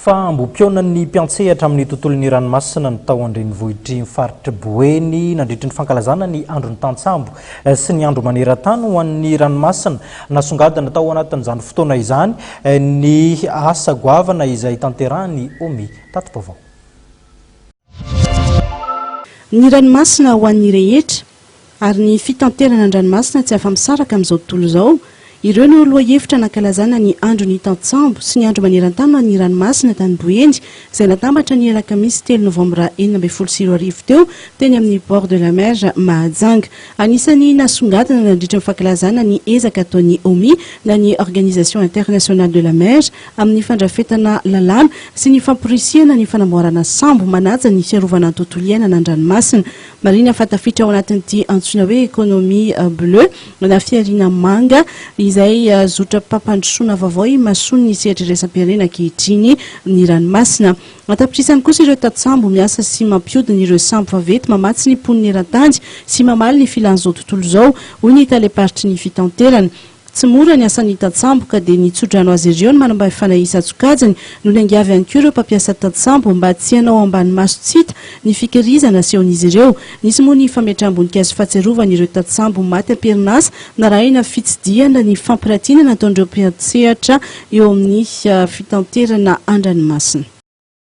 Fa ambom-pihaonan'ny mpiantsehatra amin'ny tontolon'ny ranomasina no tao an-drenivohitr'i ny faritr'i Boeny nandritry ny fankalazana ny andron'ny tantsambo sy ny andro maneran-tany ho an'ny ranomasina. Nasongadina tao anatin'izany fotoana izany ny asa goavana izay tanterahin'ny Omi. Tati-baovao. Ny ranomasina ho an'ny rehetra. ary ny fitanterana an-dranomasina tsy afa-misaraka amin'izao tontolo izao. Ireo no lohahevitra nankalazana ny Andron'ny Tantsambo sy ny Andro maneran-tany ho an'ny Ranomasina tany Boeny, izay natambatra ny alakamisy telo novambra enina ambin'ny folo sy roa arivo teo, teny amin'ny Bord de la Mer Mahajanga. Anisan'ny nasongadina nandritry ny fankalazana ny ezaka ataon'ny OMI na ny Organisation Internationale de la Mer amin'ny fandrafetana lalàna sy ny famporisihana ny fanamboarana sambo manaja ny fiarovana ny tontolo iainana an-dranomasina. Marihina fa tafiditra ao anatin'ity antsoina hoe économie bleue na fihariana manga izay zotram-pampandrosoana vaovao imasoan'ny sehatra iraisam-pirenena ankehitriny ny ranomasina. An-tapitrisany kosa ireo tantsambo miasa sy mampiodina ireo sambo vaventy mamatsy ny mponina eran-tany sy mamaly ny filan'izao tontolo izao, hoy ny talem-paritry ny fitanterana. Tsy mora ny asan'ny tantsambo ka dia nitsodrano azy ireo ny manampahefana isan-tsokajiny no niangavy ihany koa ireo mpampiasa tantsambo mba tsy hanao ambany maso tsy hita ny fikirizana asehon'izy ireo. Nisy moa ny fametraham-boninkazo fahatsiarovana ireo tantsambo maty am-perinasa narahina fitsidihana ny fampirantiana nataon'ireo mpiantsehatra eo amin'ny fitanterana an-dranomasina.